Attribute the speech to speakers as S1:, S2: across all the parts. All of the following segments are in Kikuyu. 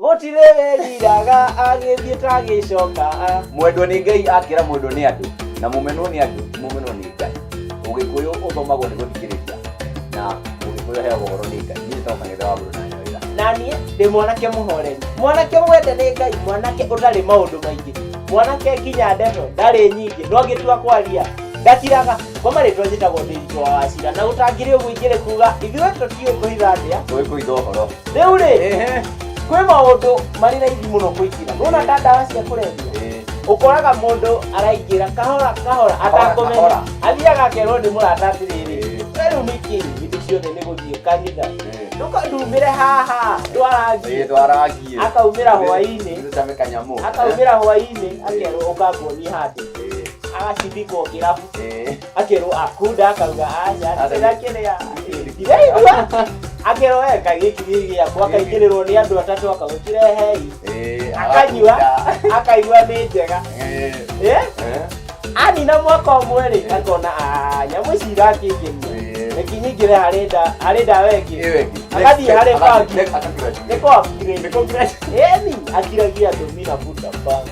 S1: gũtirĩ wĩriraga agĩthiĩ tagĩcokaa mwendwo nĩ ngai akĩra mwendwo nĩ andũ na mũmenwo nĩ andũ mũmenwo nĩ ngai ũgĩkũyũ ũthomagwo nĩ gũthikĩrĩria na ũgĩkũyũ heagwo ũhoro nĩ ngai niĩ nĩtoka ngetha wa mũndũ na nyawĩra na niĩ ndĩ mwanake mũhoreri mwanake mwende nĩ ngai mwanake ũtarĩ maũndũ maingĩ mwanake nginya ndeto ndarĩ nyingĩ no ngĩtua kwaria ndakiraga kwa marĩtwa njĩtagwo ndĩritũ wa wacira na gũtangĩrĩ ũguo ingĩrĩ kuga ithuĩ tũtiũĩ kũhitha ndĩa tũĩ kũitha ũhoro rĩu rĩ Ehe. kwĩ maũndũ marĩ raithi mũno kũingĩra nona ta ndawa cia kũrebia Eh. ũkoraga mũndũ araingĩra kahora kahora atakũmenya kahora. athiaga akerwo nĩ mũrata atĩrĩrĩ Eh. "We rĩu nĩkĩ hĩndĩ ciothe nĩ gũthiĩ kanitha Eh. ndũkandumĩre haha ndwarangie Ndwarangie. Akaumĩra hwaĩ-inĩ. Ndũcame kanyamũ. akaumĩra hwaĩ-inĩ akerwo ũkanguonie handũ Eh. agacithikwo kĩrabu Eh. akerwo akunda akauga anya ndĩra kĩrĩa ndĩraigua akerwo weka gĩkĩ gĩkĩ gĩakwa akaingĩrĩrwo nĩ andũ atatũ akaugwo kĩrehei Eh, akanyua agakunda. akaigua nĩ njega Eh, Eh? eh, anina mwaka ũmwe rĩ akona "Ah, nyamũ ici irakĩngenia Eh. reki nyingĩre harĩ nda- harĩ ndawa ĩngĩ iwe ki. agathiĩ Next harĩ step, bangi agathiĩ- akakira chini. nĩ kwa Nĩ kwa akiragia andũ mina buta bangi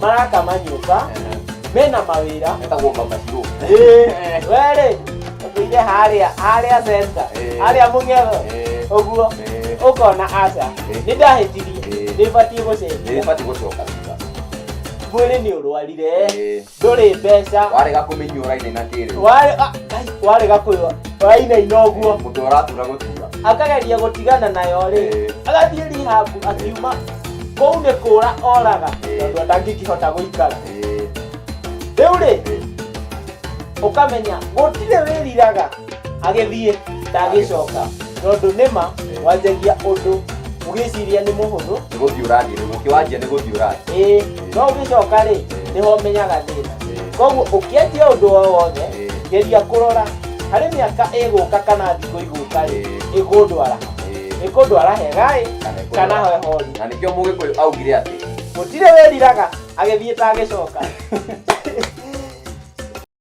S1: maraka manyũmba mena mawĩra metagwo mamacirũ werĩ ũtũire harĩa harĩa centa Eh. harĩa mũng'etho Eh. ũguo Eh. ũkona aca Eh. nĩ ndahĩtirie Eh. nĩ batiĩ gũcenjia nĩbati gũcoka thutha mwĩrĩ nĩ ũrwarire Eh. ndũrĩ mbeca warega kũmenyua raine na kĩrĩ Warĩ- ah, ai, warega kwĩwa wainaina ũguo mũtwe ũratura gũtura akageria gũtigana nayo rĩ Eh. agathiĩ rihabu akiuma kũu nĩ kũra oraga tondũ ndangĩkĩhota gũikara rĩu rĩ ũkamenya gũtirĩ wĩriraga agĩthiĩ ndagĩcoka tondũ nĩma wanjagia ũndũ ũgĩciria nĩ mũhũthũ nĩ gũthiĩ ũrathiĩ rĩu ũkĩwanjia nĩ gũthiĩ ũrathiĩ ĩĩ no ũgĩcoka rĩ nĩho ũmenyaga thĩna koguo ũkĩanjia ũndũ o wothe geria kũrora harĩ mĩaka ĩgũka kana thikũ igũka rĩ ĩgũndwara nĩ kũndwara hegaĩ kana heho na nĩkĩo mũgĩkũyũ augire atĩ gũtirĩ wĩriraga agĩthiĩ ta agĩcoka